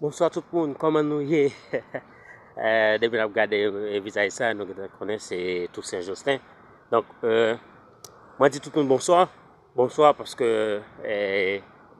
Bonswa tout moun kòman nou ye depi nap gade vizaj sa nou gentan konnen se Toussaint Joustin donk mwen di tout moun bonswa bonswa paske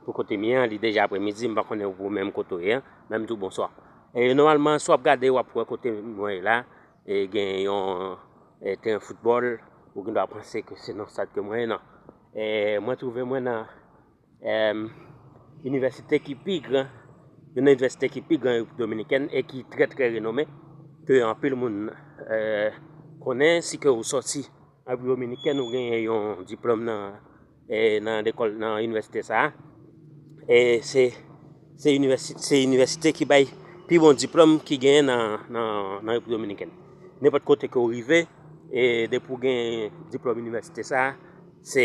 pou kote m ye li deja aprè midi m pa konnen ou menm kote ou ye men m di w bonswa nòmalman si w ap gade wap wè kote mwen ye la gen yon teren foutbòl ou gendwa panse ke se nan stad ke mwen ye nan mwen twouve mwen nan Inivèsite ki pi gran, youn nan inivèsite ki pi gran Repiblik Dominikèn e ki trè trè renome, ke anpil moun konnen, si ke ou sòti Repiblik Dominikèn ou genyen yon diplòm nan lekòl nan inivèsite sa a, e se inivèsite ki bay pi bon diplòm ki genyen nan Repiblik Dominikèn. Nenpòt kote ke ou rive, e depi ou genyen diplòm inivèsite sa a, se.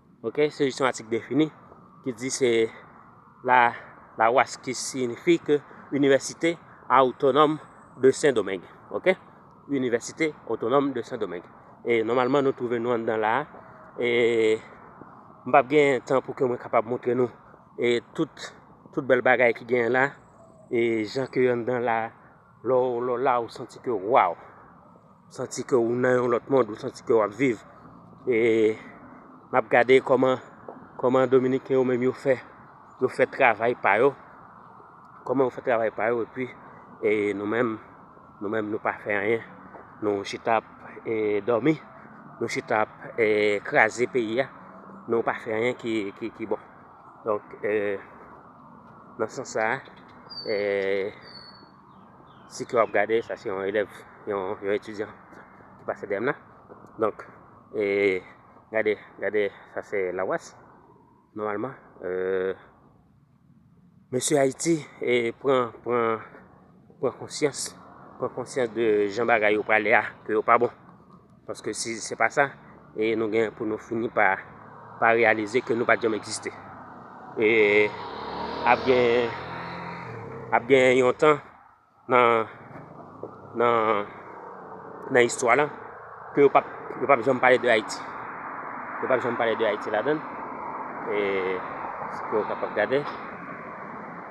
Ok se jis yon atik defini ki di se la lawas ki siynifi ke Inivèsite Awtonòm de Sen Domeng. Ok. Inivèsite Otonòm de Sen Domeng. E nòmalman nou twouve nou anndan la a. E m pap gen tan pou ke mwen kapab montre nou e tout bèl bagay ki genyen la. E jan ke anndan la a. Lè w la ou santi ke waw, santi ke ou nan yon lòt mond, ou santi ke wap viv. E map gade kòman, kòman Dominiken yo menm yo fè, yo fè travay pa yo. Kòman yo fè travay pa yo, epi e nou menm, nou menm nou pa fè anyen. Nou chita ap e dòmi, nou chita ap e kraze peyi a, nou pa fè anyen ki bon. Donk, nan sans sa, si ke w ap gade, sa se yon elèv, yon etidyan ki pase dèyè m la. Donk, gade, gade, sa se Lawas. Nòmalman, mesye Ayiti pran, pran, pran konsyans, pran konsyans de jan bagay yo prale a, ke yo pa bon. Paske si se pa sa, e nou gen pou nou fini pa pa reyalize ke nou pa t janm egziste. E ap gen ap gen yon tan nan nan nan istwa la ke yo pap yo pap janm pale de Ayiti. Yo pap janm pale de Ayiti ladan l. E si ke ou kapab gade.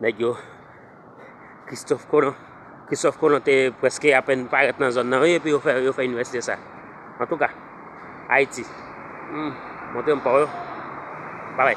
Nèg yo Christophe Colon Christophe Colon te preske apen parèt nan zòn nan wi epi yo fè yo fè université sa. En tout cas, Haïti. Hmm, montre m pa yo. Bye bye.